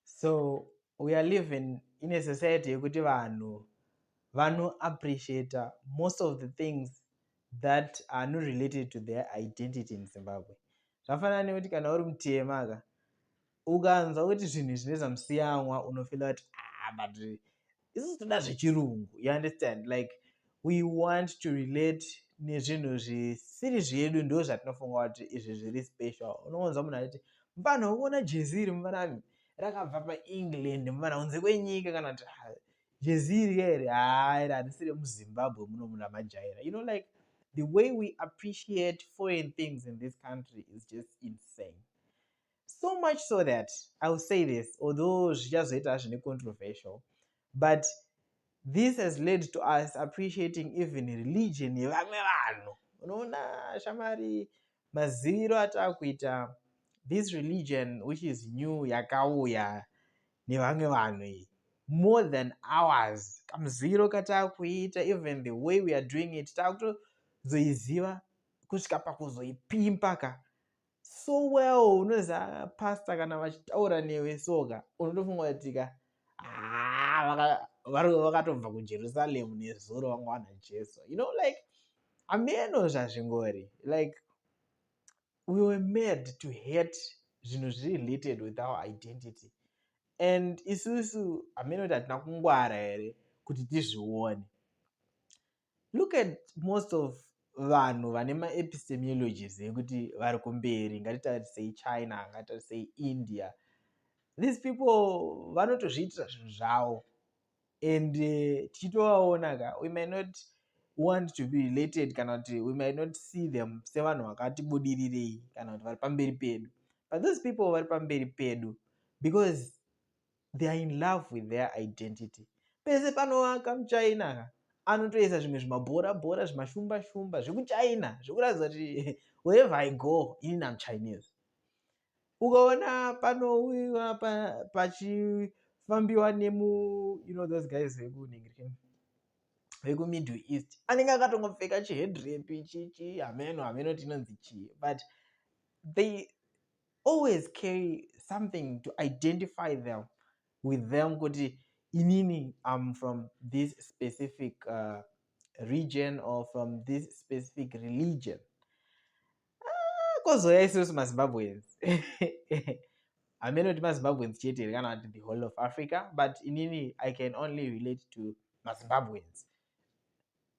so we are living in a society yekuti vanhu vanoappreciata most of the things that are not related to their identity in zimbabwe zvafanana nekuti kana uri mutema ka ukanzwa kuti zvinhu zvine zvamusiyanwa unofila kuti ah, but isu toda zvechirungu you understand like we want to relate nezvinhu zvisiri zvedu ndo zvatinofunga kuti izvi zviri special unoonza munhu achiti mfana ukuona jezi iri mfana rakabva paengland mfana kunze kwenyika kana kuti ah, jezi iri here haa iri harisi remuzimbabwe muno munhu amajaira you know like the way we appreciate foreign things in this country is just insane so much so that i will say this although zvichazoita hazvo necontroversial but this has led to us appreciating even religion yevamwe vanhu unoona shamari maziviro ataa kuita this religion which is new yakauya nevamwe vanhu iyi more than ours kamuziviro kataa kuita even the way we are doing it taakutozoiziva kusvika pakuzoipimpa ka so well unoziva pasta kana vachitaura newe soka unotofunga kutika ah, vakatobva kujerusalemu nezuro vanga wana jesu you know like ameno zvazvingori like we were made to hate zvinhu zviri related with our identity and isusu ameno kuti hatina kungwara here kuti tizvione look at most of vanhu vane maepistemiologies ekuti vari kumberi ngatitarisei china ngatitarisei india these people vanotozviitira zvinhu zvavo and eh, tichitovaona ka we may not want to be related kana kuti we may not see them sevanhu vakati budirirei kana kuti vari pamberi pedu but those people vari pamberi pedu because they are in love with their identity pese panovaka muchina ka anotoisa zvimwe zvimabhora bhora zvimashumba shumba zvekuchina zvekuratidza kuti wherever i go ini namuchinese ukaona panouiwa pachifambiwa nemu you know those guys vekuningirikeni vekumiddle east anenge akatongopfeka chihedrepi chichi hameno hameno tinonzi chii but they always carry something to identify them with them kuti inini am from this specific uh, region or from this specific religion ah, kozouya isusu mazimbabweans hameno kuti mazimbabweans chete here kana kuti the whole of africa but inini i can only relate to mazimbabweans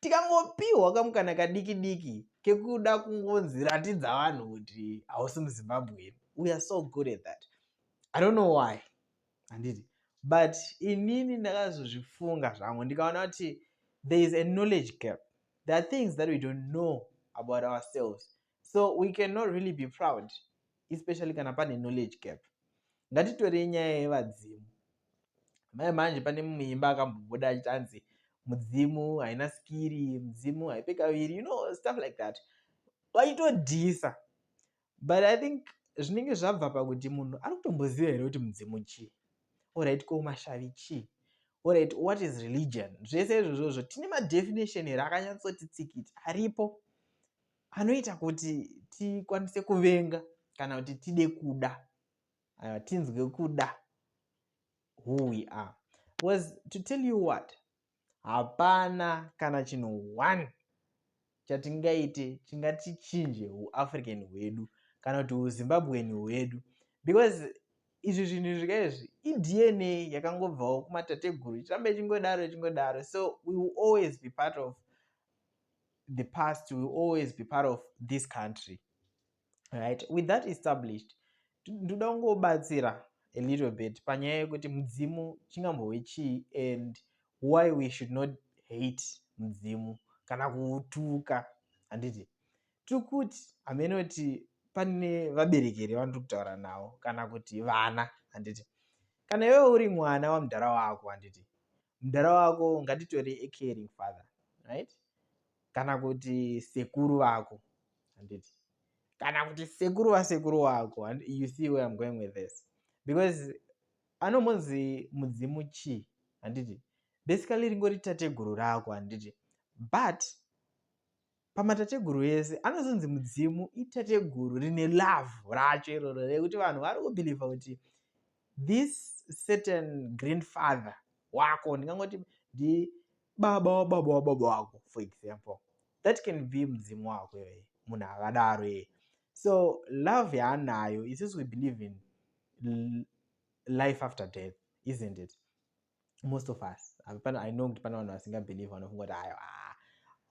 tikangopihwa kamukana kadiki diki kekuda kungonzi ratidza vanhu kuti hausi muzimbabwean we are so good at that i don't know why handiti but inini ndakazozvifunga zvangu ndikaona kuti there is a knowledge gap there are things that we don't know about ourselves so we cannot really be proud especially kana pane knowledge gap ngatitorei nyaya yevadzimu mai manje pane mumwe imba akambobuda achiti anzi mudzimu haina skiri mudzimu haipe kaviri you know stuff like that vaitodhisa but i think zvinenge zvabva pakuti munhu ari kutomboziva here kuti mudzimu chii orit ko mashavi chii orit what is religion zvese izvozvozvo tine madefinition here akanyatsoti tsikiti aripo anoita kuti tikwanise kuvenga kana kuti tide kuda uh, tinzwe kuda who we are was to tell you what hapana kana chinhu one chatingaite chingatichinje uafrican hwedu kana kuti uzimbabwen hwedu because izvi zvinhu zvika izvi idna yakangobvawo kumatateguru ichirambe chingodaro chingodaro so we will always be part of the past will always be part of this country right with that established ndoda kungobatsira a little bit panyaya yekuti mudzimu chingambove chii and why we should not hate mudzimu kana kuutuka handiti tiri kuti hamene kuti pane vabereki here vandiri kutaura navo kana kuti vana handiti kana iwewo uri mwana wamudhara wako handiti mudhara wako ngatitore a caring father right kana kuti sekuru vako handiti kana kuti sekuru vasekuru wako you see where im going with this because anombonzi mudzimu chii handiti basically ringori tateguru rako handiti but pamatateguru ese anozonzi mudzimu itateguru rine love racho iroro rekuti vanhu vari kubhilivha kuti this certain grandfather wako ndingangoti ndi baba wababa wababa wako for example that can be mudzimu wako iyoye munhu akadaro iye so love yaanayo isusu we believe in life after death isn't it most of us pana i know kuti pana vanhu vasingabelieve vanofunga kuti ayo ah,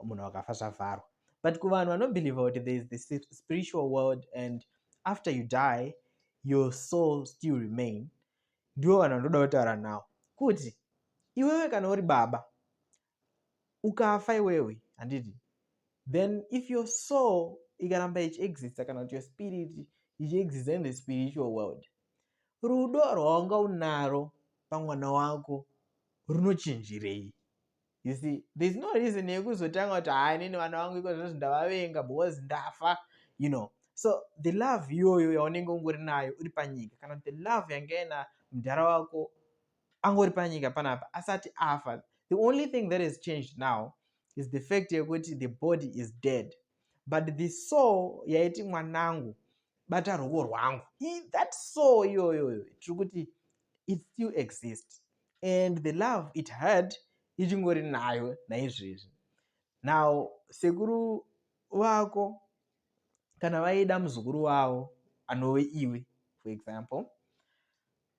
munhu wakafa zvavharwa but kuvanhu vanobelieve kuti there is this spiritual world and after you die your soul still remain ndiwo vanhu vanoda kutaura nawo kuti iwewe kana uri baba ukafa iwewe handiti then if your soul ikaramba ichiexista kana kuti your spirit ichiexista in the spiritual world rudo rwaunga unaro pamwana wako runochinjirei you see there's no reason yekuzotanga kuti haa inini vana vangu iko zvinozvi ndavavenga because ndafa you know so the love iyoyo yaunenge ungori nayo uri panyika kana kuti the love yanga ina mudhara wako angori panyika panapa asati afa the only thing that has changed now is the fact yekuti the body is dead but the soul yaiti mwanangu bata ruoko rwangu that soul iyoyoyo tiri kuti it still exist and the love it had ichingori nayo naizvezvi now sekuru vako kana vaida muzukuru wavo anove iwe for example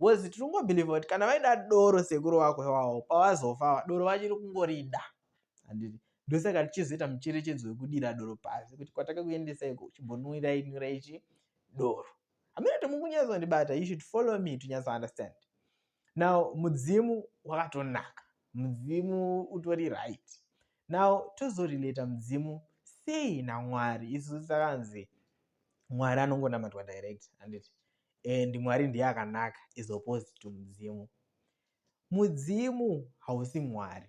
was tiri kungobhilivha kuti kana vaida doro sekuru wako iwawo pavazofawa doro vachiri kungorida handiti ndosaka tichizoita mucherechedzo wekudira doro pasi kuti kwatakakuendesaiko uchibonwira inwira ichi doro hamina kuti mukunyatsondibata you should follow me to nyatso understand now mudzimu wakatonaka mudzimu utori right now tozorelata mudzimu sei namwari isu sakanzi mwari anongonamatwa direct handiti and mwari ndiye akanaka is opposed to mudzimu mudzimu hausi mwari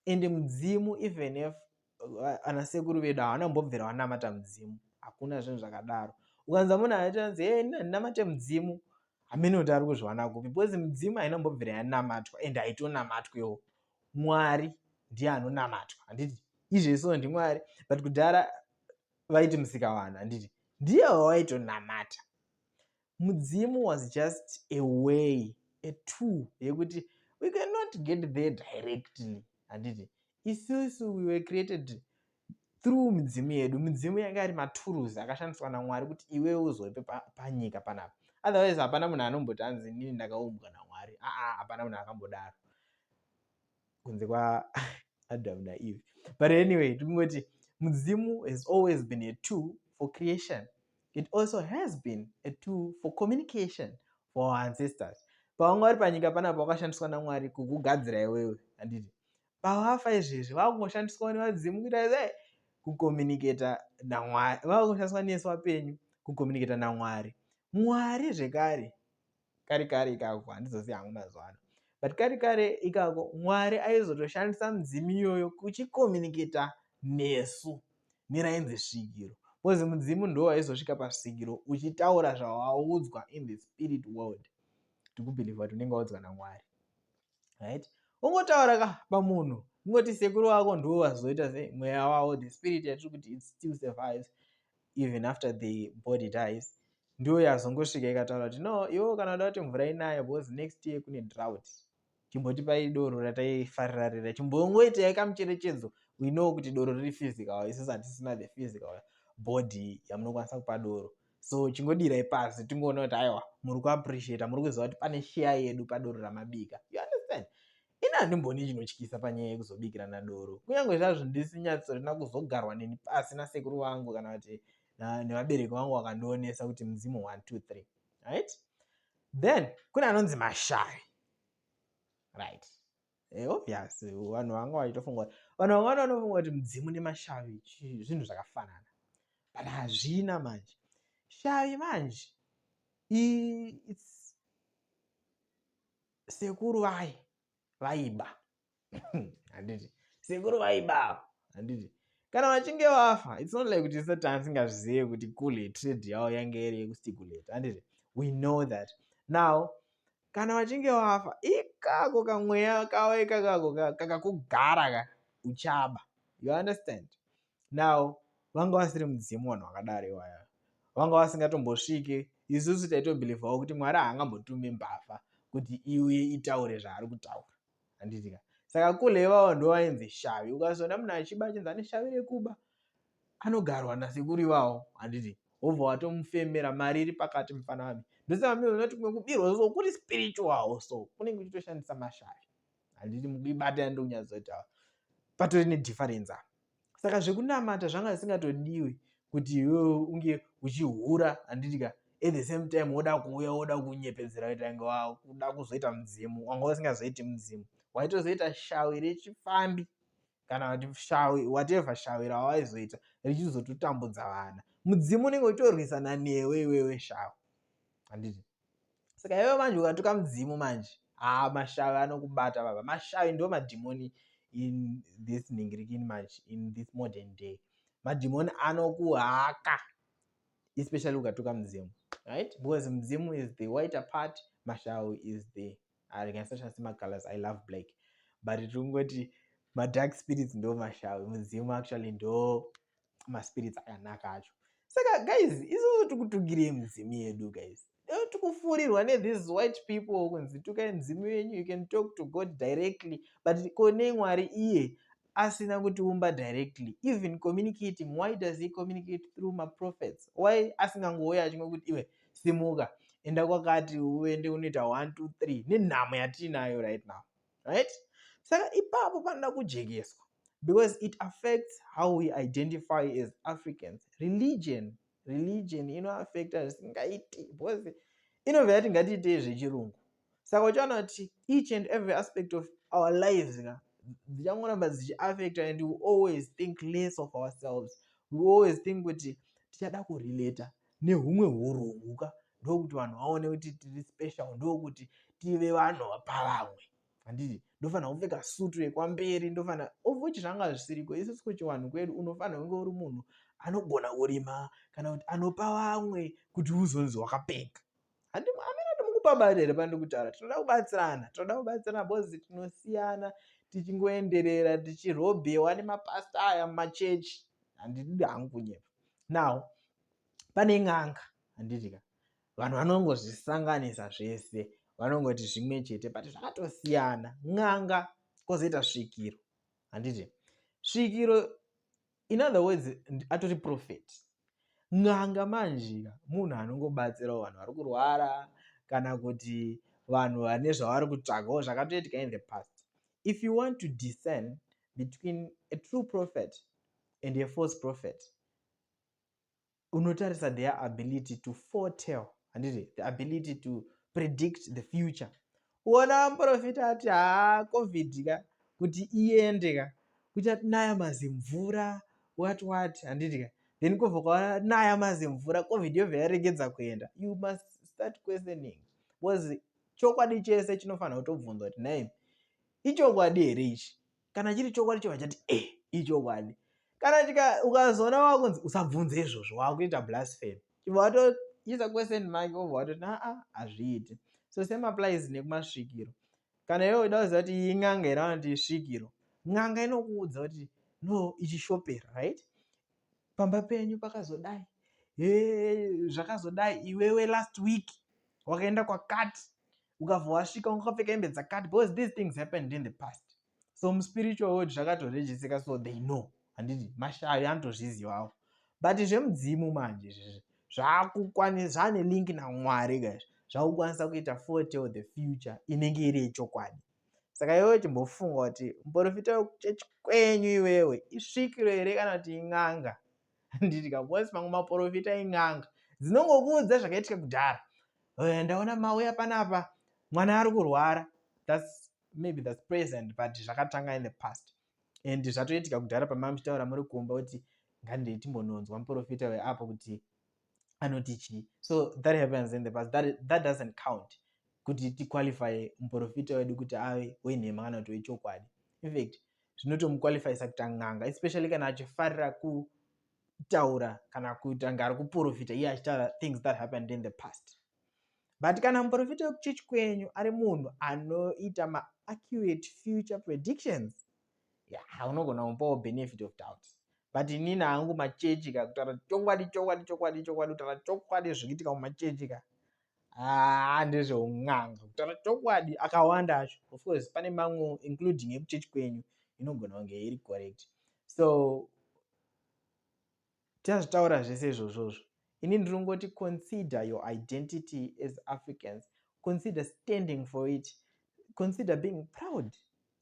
and mudzimu even if uh, ana sekuru vedu havana kumbobvira vanamata mudzimu hakuna zvinhu zvakadaro ukanza munhu aitaanzi e eh, ndinamate mudzimu hamene kuti ari kuzviwana kupi because mudzimu haina kumbobvira yanamatwa and haitonamatwewo mwari ndiye anonamatwa handiti izvezvo ndimwari but kudhara vaiti musikavanhu handiti ndiye wavaitonamata mudzimu was just a way a tool yekuti we cannot get there directly handiti isusu we were created through midzimu yedu midzimu yanga ari maturuls akashandiswa namwari kuti iwewe uzoipe panyika panapa otherwise hapana munhu anomboti anzi inini ndakaumbwa namwari aa hapana munhu akambodaro kunze kwaadam naeve but anyway tikungoti mudzimu has always been a two for creation it also has been a two for communication for our ancestors pavanga vari panyika panapa wakashandiswa namwari kukugadzira iwewe handiti pavafa izvezvi vakungoshandiswa nevadzimu kuita e kucommunicata namwari vakungoshandiswa nesu vapenyu kucommunicata namwari mwari zvekare kare kare ikako handizozivi hangu mazuva ano but kare kare ikako mwari aizotoshandisa mudzimu iyoyo kuchikomuniketa nesu nerainzi svikiro bcause mudzimu ndo waizosvika pasvikiro uchitaura zvawaudzwa in the spirit world tikubhilivha kuti unenge waudzwa namwari right ungotaura ka pamunhu ungoti sekuru wako ndiwo vazoita se mweya wavo the spirit yatiri kuti its still survives even after the body dies ndiyo yazongosvika ikataura kuti no iwo kana uda kuti mvura inaye because next year kune drought chimbotipai doro rataifarira rira chimbongoitai kamucherechedzo we know kuti doro riri physical isis hatisina the physical body yamunokwanisa kupa doro so chingodirai pasi tingoona kuti aiwa muri kuappreciata muri kuziva kuti pane share yedu padoro ramabika you understand ini handimbooni chinotyisa panyaya yekuzobikirana doro kunyange zvazvo ndisinyatsorina kuzogarwa neni pasi nasekuru vangu kana kuti nevabereki vangu vakandionesa kuti mudzimu 123 right then kune anonzi mashari right eh, obvious vanhu vanga vachitofunga vanhu vanga vanofunga kuti mudzimu nemashavi zvinhu zvakafanana but hazvina manje shavi manje it's sekuru vaye vaiba handiti sekuru vaiba handiti kana vachinge vafa its not like kuti satan singazvizive kuti kule trade yavo yange iri yekustikulate handiti we know that now kana vachinge vafa ikako kamweya kavo ikakako kakakugara ka uchaba you understand now vanga vasiri mudzimu vanhu vakadaro iwaya vanga vasingatombosvike isusu taitobhilivhawo kuti mwari haangambotume mbavha kuti iuye itaure zvaari kutaura handitika saka kule ivavo ndo vainzi shavi ukazoona munhu achiba achinzi ane shavi rekuba anogarwa nasekuru ivavo handiti wobva watomufemera mari iri pakati mufana vami ndosaka mioona kuti kumwe kubirwa so kuri spiritual so kunenge uchitoshandisa mashavi handiti mukuibata ndonyatsotaura patori nedifference apa saka zvekunamata zvanga zvisingatodiwi kuti iwewe unge uchihura handitika at the same time woda kuuya woda kunyepedzera kuita inge wakuda kuzoita mudzimu wanga usingazoiti mudzimu waitozoita shawi rechifambi kana kuti shawi whatever shawi rawaizoita richizototambudza vana mudzimu unenge uchitorwisana newe iwewe shawi handiti saka iwe manje ukatuka mudzimu manje haa mashavi anokubata baba mashavi ndo madhimoni in this ningirikini manje in this modern day madhimoni anokuhaka especially ukatuka mudzimu right because mudzimu is the whiter part mashavi is the I can search asi macolors I love black but tingoti madark spirits ndo mashavi mudzimu actually ndo maspirits akanaka acho saka guys isusu tikutugirei mudzimu yedu guys tikufurirwa nethese white people kunzi tukai mudzimu yenyu you can talk to god directly but konei mwari iye asina kutiumba directly even communicating why does he communicate through maprophets why asingangouya achimwe kuti iwe simuka enda kwakati uende unoita 1 2 3 nenhamo yatiinayo right now right saka ipapo panoda kujekeswa because it affects how we identify as africans religion religion inoaffecta zvisingaiti because inobva yati ngatiitei zvechirungu saka uchaona kuti each and every aspect of our lives ka dzichangoramba dzichiaffecta and we always think less of ourselves we always think kuti tichada kurelata nehumwe urungu ka ndokuti vanhu vaone kuti tiri special ndokuti tive vanhu vapavamwe handiti ndofanira kupfeka sutu yekwamberi ndofanira ovochi zvanga zvisiriko isusu kuchiwanhu kwedu unofanira kunge uri munhu anogona kurima kana kuti anopa vamwe kuti uzonzi wakapfeka amene ati mukupa mari here pandiri kutaura tinoda kubatsirana tinoda kubatsirana bcoz tinosiyana tichingoenderera tichirobhewa nemapasta aya mumachechi handidi hangu kunyepa now pane n'anga handitika vanhu vanongozvisanganisa zvese vanongoti zvimwe chete but zvakatosiyana n'anga kozoita svikiro handiti svikiro in other words atori prophet n'anga manjika munhu anongobatsirawo vanhu vari kurwara kana kuti vanhu vane zvavari kutsvagawo zvakatoitika in the past if you want to discern between a true prophet and a false prophet unotarisa their ability to foretell handiti the ability to predict the future uona muprofita ati haa covid ka kuti iende ka kuchati naya mazimvura wat wat handiti ka then kobva kwaona naya mazimvura covid yobva yaregedza kuenda you must start questioning bcause chokwadi chese chinofanira kutobvunza kuti nai ichokwadi here ichi kana chiri chokwadi chobva chati e eh, ichokwadi kana ukazoona wakunzi usabvunze izvozvo wakuita blasphemy chibva watoisa question make obva watoti aa hazviiti so same applies nekumasvikiro kana iwe uida kuziva kuti iyi n'anga here vanoti isvikiro n'anga inokuudza kuti no ichishopera right pamba penyu pakazodai zvakazodai iwewe last week wakaenda kwakati ukabva wasvika wakapfeka hembe dzakati because these things happened in the past so muspiritual world zvakatorejisika so they know handiti mashavi anotozvizivawo but zvemudzimu manje izvezvi zvakukwanisa zvaane link namwari kaizvo zvakukwanisa kuita fotel the future inenge iri yechokwadi saka iwewe chimbofunga kuti muporofita wekuchechi kwenyu iwewe isvikiro here kana kuti in'anga handidya bcause mamwe maporofita en'anga dzinongokuudza zvakaitika kudhara eh, ndaona mauya panapa mwana ari kurwara thats maybe thats present but zvakatanga in the past and zvatoitika kudhara pamamuchitaura muri kumba kuti ngandiitimbononzwa muporofita weapo kuti anoti chii so that happens in the past that, that doesn't count kuti tiqualifye muprofita wedu kuti ave wenhema kana kuti wechokwadi infact zvinotomuqualifyisa kuita n'anga especially kana achifarira kutaura kana kutanga ari kuprofita iye achitaura things that happened in the past but kana muprofita wekuchechi kwenyu ari munhu anoita maaccurate future predictions yeah, unogona kupawo benefit of doubt but inini hangu machechi ka kutaura chokwadi chokwadi chokwadi chokwadi kutaura chokwadi zvikuitika mumachechi ka haa ah, ndezveun'anga kutaura chokwadi akawanda acho of course pane mamwe including ekuchechi kwenyu inogona kunge iri correct so Tichazvitaura zvese izvozvozvo. Ini ndinongoti consider your identity as Africans. Consider standing for it. Consider being proud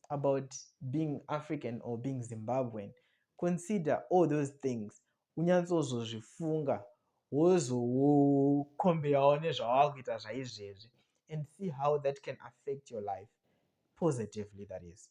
about being African or being Zimbabwean. Consider all those things. Unyatsozozvifunga wozokombeyawo nezvawava kuita zvaizvezvi and see how that can affect your life positively that is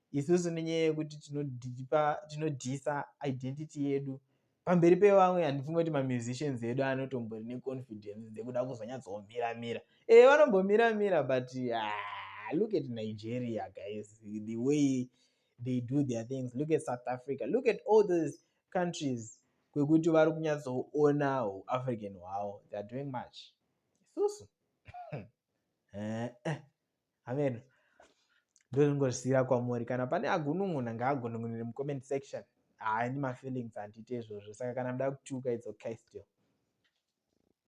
isusu nenyaya yekuti tinodyisa identity yedu pamberi pevamwe handifunge kuti mamusicians edu anotombori neconfidence dzekuda kuzonyatsomira mira e eh, vanombomira mira but ah, look at nigeria guys the way they do their things look at south africa look at all those countries kwekuti vari kunyatsoona uafrican hwavo theyare doing much isusu eh, eh. amen ndozvingozvisiira kwamuri kana pane agunun'una ngaagunun'unire mucomment section haani mafeelings handiti izvozvo saka kana muda kutuka it's okay still